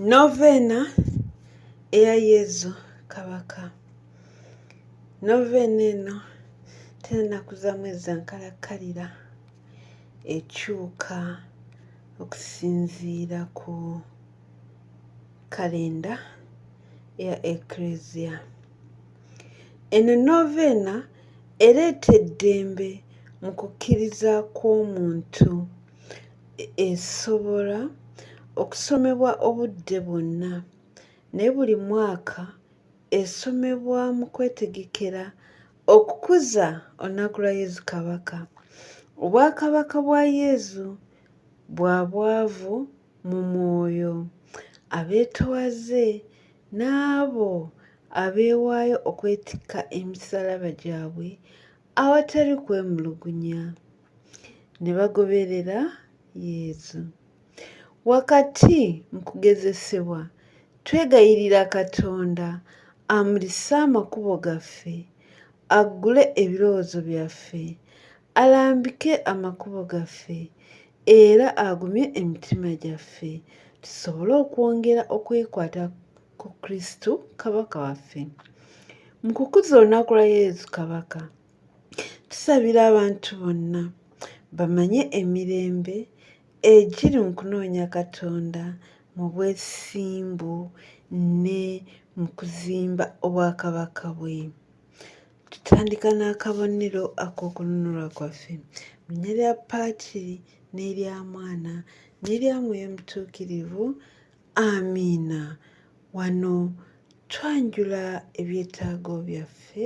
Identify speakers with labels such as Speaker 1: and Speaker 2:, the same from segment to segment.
Speaker 1: Noveena eya Yezu Kabaka. Noveena eno tennaku za mwezi nkalakkalira ekyuka okusinziira ku kalenda ya Eklezia. Eno noveena ereeta eddembe mu kukkiriza kw'omuntu esobola okusomebwa obudde bwonna naye buli mwaka esomebwa mu kwetegekera okukuza olunaku lwa yezu kabaka obwakabaka bwa yezu bwa bwavu mu mwoyo abeetwaze n'abo abeewaayo okwetikka emisalaba gyabwe awatali kwemulugunya ne bagoberera Yezu. Wakati mu kugezesebwa, twegayirira Katonda amulise amakubo gaffe, aggule ebirowoozo byaffe, alambike amakubo gaffe, era agumye emitima gyaffe tusobole okwongera okwekwata ku Kristu Kabaka waffe. Mu kukuza olunaku lwa Yezu Kabaka, tusabira abantu bonna bamanye emirembe egiri mu kunoonya katonda mu bwesimbu ne mu kuzimba obwakabaka bwe tutandika n'akabonero ak'okununulwa kwaffe linya lya paakiri n'erya mwana n'erya mwoyo mutuukirivu amiina wano twanjula ebyetaago byaffe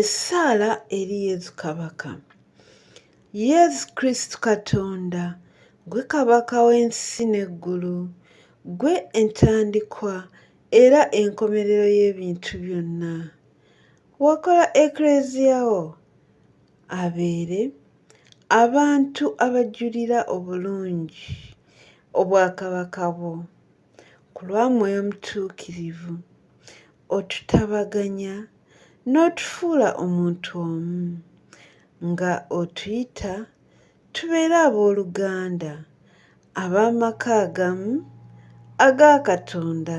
Speaker 1: essaala eri yesu kabaka yesu kristu katonda gwe kabaka w'ensi n'eggulu gwe entandikwa era enkomerero y'ebintu byonna wakola eklezia wo abeere abantu abajulira obulungi obwakabaka bwo ku lwa mwoyo mutuukirivu otutabaganya n'otufuula omuntu omu nga otuyita tubeere ab'oluganda ab'amaka agamu aga Katonda.